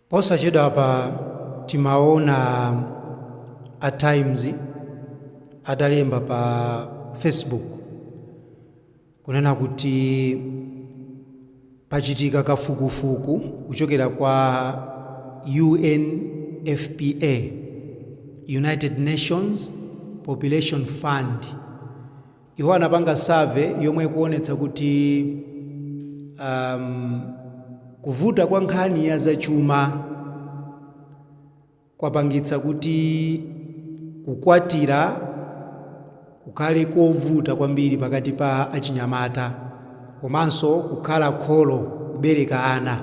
Posachedwapa timaona a Times atalemba pa Facebook kunena kuti pachitika kafukufuku kuchokera kwa UNFPA, United Nations Population Fund, Iwo anapanga survey yomwe ikuonetsa kuti um, kuvuta kwa nkhani ya zachuma kwapangitsa kuti kukwatira kukhale kovuta kwambiri pakati pa achinyamata komanso kukhala kholo kubereka ana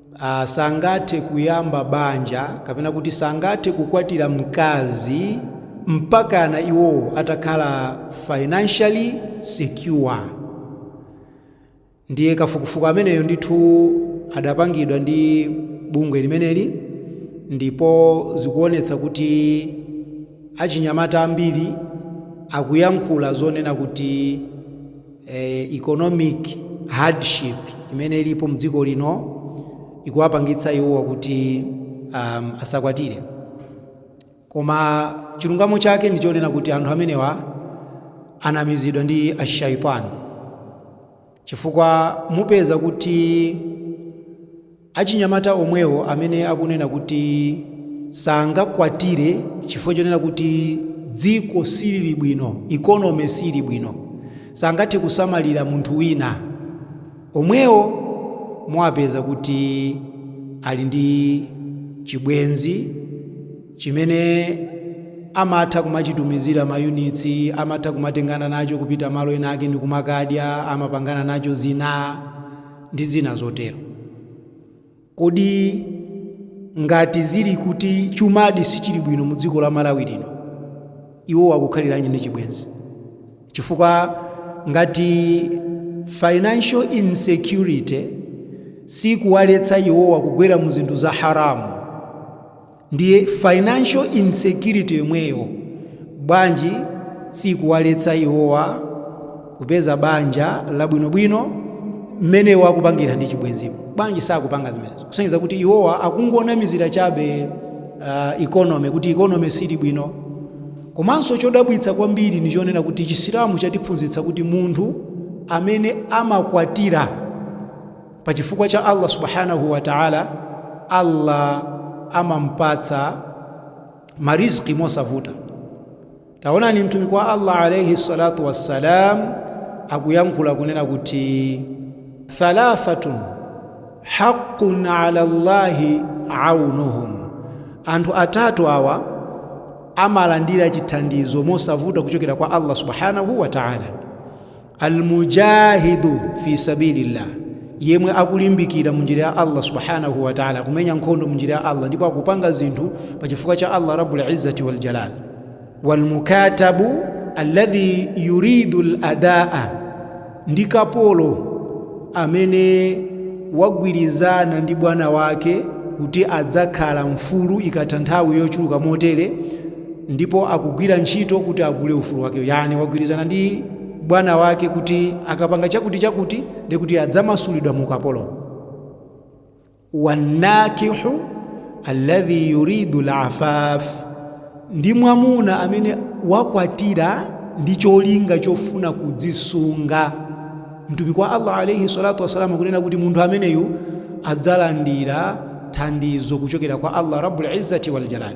a sangathe kuyamba banja kapena kuti sangathe kukwatira mkazi mpakana iwo atakhala financially secure ndiye kafukufuku ameneyo ndithu adapangidwa ndi bungwe limeneli ndipo zikuonetsa kuti achinyamata ambiri akuyankhula zonena kuti eh, economic hardship imene ilipo mdziko lino ikuwapangitsa iwowa kuti um, asakwatire koma chilungamo chake ndi chonena kuti anthu amenewa anamizidwa ndi ashaitani chifukwa mupeza kuti Achinyamata omwewo amene akunena kuti sangakwatire chifukwa chonena kuti dziko silili bwino, economy siili bwino, sangathe kusamalira munthu wina, omwewo muwapeza kuti ali ndi chibwenzi chimene amatha kumachitumizira mayunitsi, amatha kumatengana nacho kupita malo enaake ndikumakadya, amapangana nacho zina. ndi zina zotero. Kodi ngati zili kuti chumadi sichili bwino mu dziko la Malawi lino, iwowa akukhaliranji ndi chibwenzi? Chifukwa ngati financial insecurity siikuwaletsa iwowa kugwera mu zinthu za haram, Ndiye financial insecurity yomweyo bwanji siikuwaletsa iwowa kupeza banja labwinobwino mmene iwo akupangira ndi chibwenzimu? Bwanji sakupanga zimenezo? Kusonyeza kuti iwowa akungonamizira chabe uh, economy kuti economy sili bwino. Komanso chodabwitsa kwambiri ni chonena kuti Chisilamu chatiphunzitsa kuti munthu amene amakwatira Pa chifukwa cha Allah Subhanahu wa Ta'ala, Allah amampatsa marizqi mosavuta. Taonani mtumiki wa Allah alayhi salatu wassalam akuyankhula kunena kuti thalathatun haqqun ala Allahi aunuhum, anthu atatu awa amalandira chithandizo mosavuta kuchokera kwa Allah Subhanahu wa Ta'ala. almujahidu fi sabilillah yemwe akulimbikira mu njira ya allah subhanahu wa taala akumenya nkhondo mu njira ya allah ndipo akupanga zinthu pa chifukwa cha allah rabbul izzati wal jalal walmukatabu alladhi yuridu ladaa ndi kapolo amene wagwirizana ndi bwana wake kuti adzakhala mfulu ikatha nthawi yochuluka motere ndipo akugwira ntchito kuti agule ufulu wake yani wagwirizana ndi bwana wake kuti akapanga chakuti chakuti ndekuti adzamasulidwa mu ukapolo wannakihu alladhi yuridu lafaf ndi mwamuna amene wakwatira ndi cholinga chofuna kudzisunga mtumiki wa allah alaihi salatu wasalamu kunena kuti munthu ameneyu adzalandira thandizo kuchokera kwa allah rabbul izzati waljalali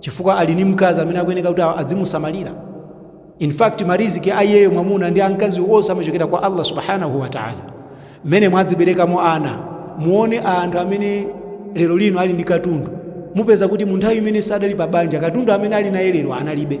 chifukwa ali ni mkazi amene akuyeneka kuti adzimusamalira in fact mariziki a iyeyo mwamuna ndi amkazi onse amachokera kwa allah subhanahu wa taala mmene mwadziberekamo ana muone anthu amene lero lino ali ndi katundu mupeza kuti mu nthawi imene sadali pa banja katundu amene ali naye lero analibe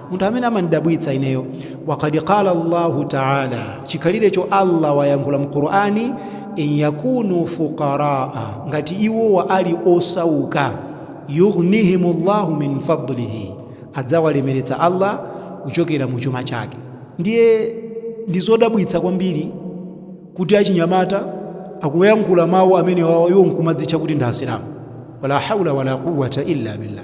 munthu amene amandidabwitsa ineyo waqad qala allahu taala chikhalirecho allah wayankhula mu qur'ani in yakunu fuqaraa ngati iwowa ali osauka yughnihimu llahu min fadlihi adzawalemeretsa allah kuchokera mu chuma chake ndiye ndi zodabwitsa kwambiri kuti achinyamata akuyankhula mawu amenewawa iwo nkumadzitcha kuti ndi asilamu wala haula wala quwata illa billah